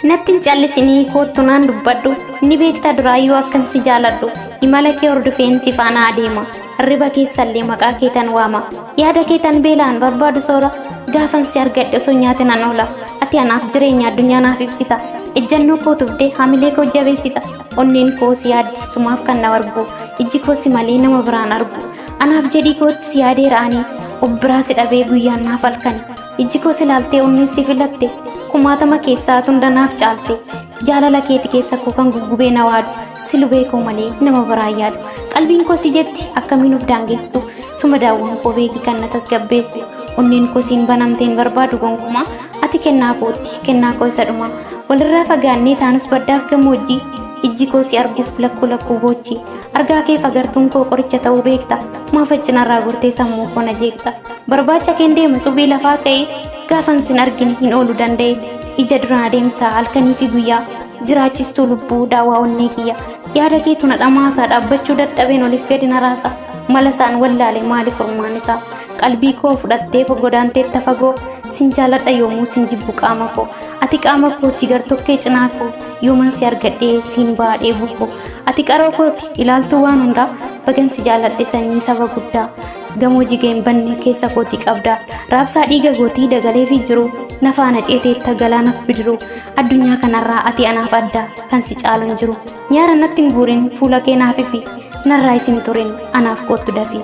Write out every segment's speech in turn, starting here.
Natti hin callisinii koottu naan dubbadhu ni beekta duraayyuu akkan si jaaladhu imala kee hordofeen si faana adeema riba keessallee maqaa keetan waama yaada keetan beelaan barbaadu soora gaafan si argadhe osoo nyaate nan oola ati anaaf jireenya addunyaa naaf ibsita ejjannoo koo tubdee hamilee koo jabeessita onneen koo si yaaddi sumaaf kan na argu ijji koo si malee nama biraan argu anaaf jedhii kootu si yaadee ra'anii of biraa si dhabee guyyaan naaf halkani ijji koo si laaltee onneen si filatte kumaatama keessaa tunda naaf caalte jaalala keeti keessa koo kan guggubee na waadu si lubee koo malee nama biraa yaadu qalbiin koo si jetti akkamiin of daangessu suma daawwan koo beeki kan na tasgabbeessu onneen koo siin banamteen barbaadu gonkumaa Ati kennaa kooti, kennaa koo isa dhumaa. Walirraa fagaannee taanus baddaaf gammoojjii. Ijji koo si arguuf lakkuu lakkuu boochi. Argaa keef agartuun koo qoricha ta'uu beekta. Maaf accinarraa gortee sammuu koo na jeeqxa. Barbaacha keen deema subii lafaa ka'ee. Gaafan sin argine hin oolu danda'e. Ija duraan adeemta halkanii fi guyyaa. Jiraachistuu lubbuu daawaa onnee kiyya. Yaada keetu na dhamaasa dhaabbachuu dadhabeen oliif gadi na raasa. Mala isaan wallaale maali furmaan isaa. qalbii koo fudhattee fo godaanteetta fagoo sin jaaladha yoomuu sin jibbu qaama koo ati qaama kooti gartokkee cinaa koo yooman si argadhee siin ba'aa dheebuu koo ati qaroo kooti ilaaltuu waan hundaa bagan si jaaladhe sanyii saba guddaa gamoo jiga hin banne keessa kooti qabdaa raabsaa dhiiga gootii dagalee fi jiru na faana ceeteetta galaanaf bidiruu addunyaa kanarraa ati anaaf addaa kan si caalu hin jiru nyaara natti hin guurin fuula kee naaf ifi narraa isin turin anaaf koottu dafii.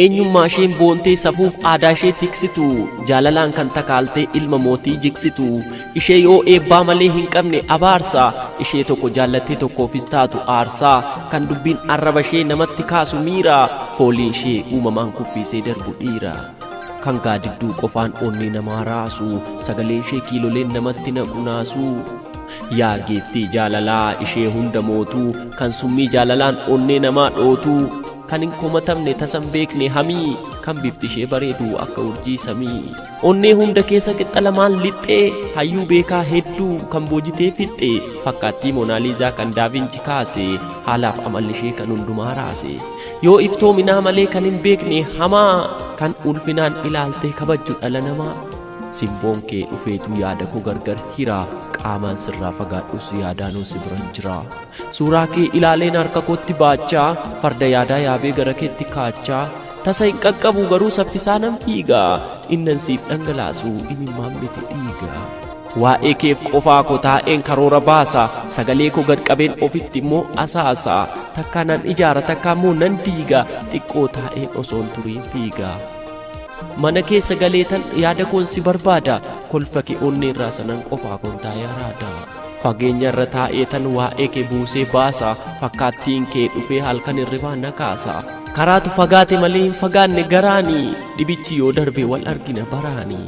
Eenyummaa isheen boontee safuuf aadaa ishee tiksitu jaalalaan kan takaaltee ilma mootii jiksitu ishee yoo eebbaa malee hin qabne abaarsa ishee tokko jaallattee tokkoofis taatu aarsaa kan dubbiin arraba ishee namatti kaasu miira foolii ishee uumamaan kuffiisee darbu dhiira. Kan gaadidduu qofaan onnee namaa raasu sagalee ishee kiiloleen namatti naqu naasu. Yaa giiftii jaalalaa ishee hunda mootuu kan summii jaalalaan onnee namaa dhootuu. Kan hin komatamne tasa hin beekne hamii Kan bifti ishee bareedu akka urjii samii Onnee hunda keessa qixxa lamaan lixxee Hayyuu beekaa hedduu kan boojitee fixxe Fakkaattii Moonaaliizaa kan Daavinci kaase Haalaaf amalli ishee kan hundumaa raase Yoo iftoominaa malee kan hin beekne hamaa Kan ulfinaan ilaaltee kabajju dhala namaa Simboon kee dhufeetu yaada koo gargar hira Qaamaan sirraa fagaadhus yaadaanoo si biran jira Suuraa kee ilaaleen harka kootti baachaa farda yaadaa yaabee gara keetti kaachaa tasa hin qaqqabu garuu saffisaa nan fiiga innan siif dhangalaasu imimmaan miti dhiiga. Waa'ee keef qofaa koo taa'een karoora baasa sagalee koo gad qabeen ofitti immoo asaasa takkaa nan ijaara takkaa immoo nan diiga xiqqoo taa'een osoon turiin fiiga. Mana keessa galeetan yaada koon si barbaada kolfa kee onnee irraa sanan qofaa koon taa'ee araada. Fageenya irra taa'ee tan waa'ee kee buusee baasa fakkaattiin kee dhufee halkan hirribaa na kaasa karaatu fagaate malee hin fagaanne garaani dhibichi yoo darbe wal argina baraani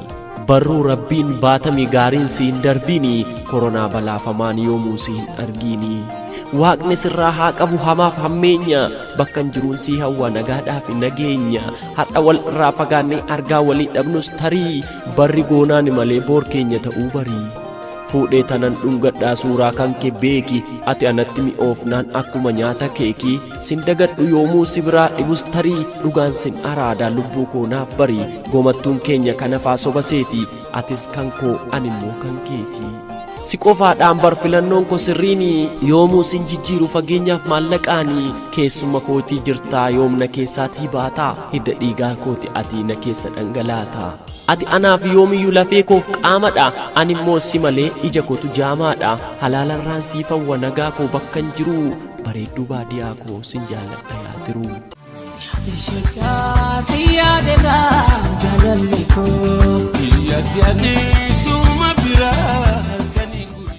barruu rabbiin baatami gaariin si hin darbiini koronaa balaafamaan yoomuu si hin argiini waaqni sirraa haa qabu hamaaf hammeenya bakkan jiruun sii hawwa nagaadhaaf nageenya har'a wal irraa fagaannee argaa walii dhabnus tarii barri goonaani malee boor keenya ta'uu barii fuudhee tanan dhungadhaa suuraa kanke beeki ati anatti mi'oofnaan akkuma nyaata keekii sin dagadhu yoomuu si biraa dhibus tarii dhugaan sin araadaa lubbuu koo naaf barii gomattuun keenya kanafaa soba seetii atis kan koo animmoo kan keetii. si qofaadhaan bar filannoon ko sirriini yoomuu sin jijjiiru fageenyaaf maallaqaani keessuma kootii jirtaa yoomna keessaatii baataa hidda dhiigaa kooti atii na keessa dhangalaataa. Ati anaaf yoomiyyuu lafee koof qaamadha, ani immoo si malee ija kootu jaamaadha. Halaalarraan siif hawwa nagaa koo bakkan jiru, bareedduu baadiyaa koo sin jaalladha yaa tiruu. Ishaqaa si yaadera jaalalli koo. Biyya si adeesuma biraa.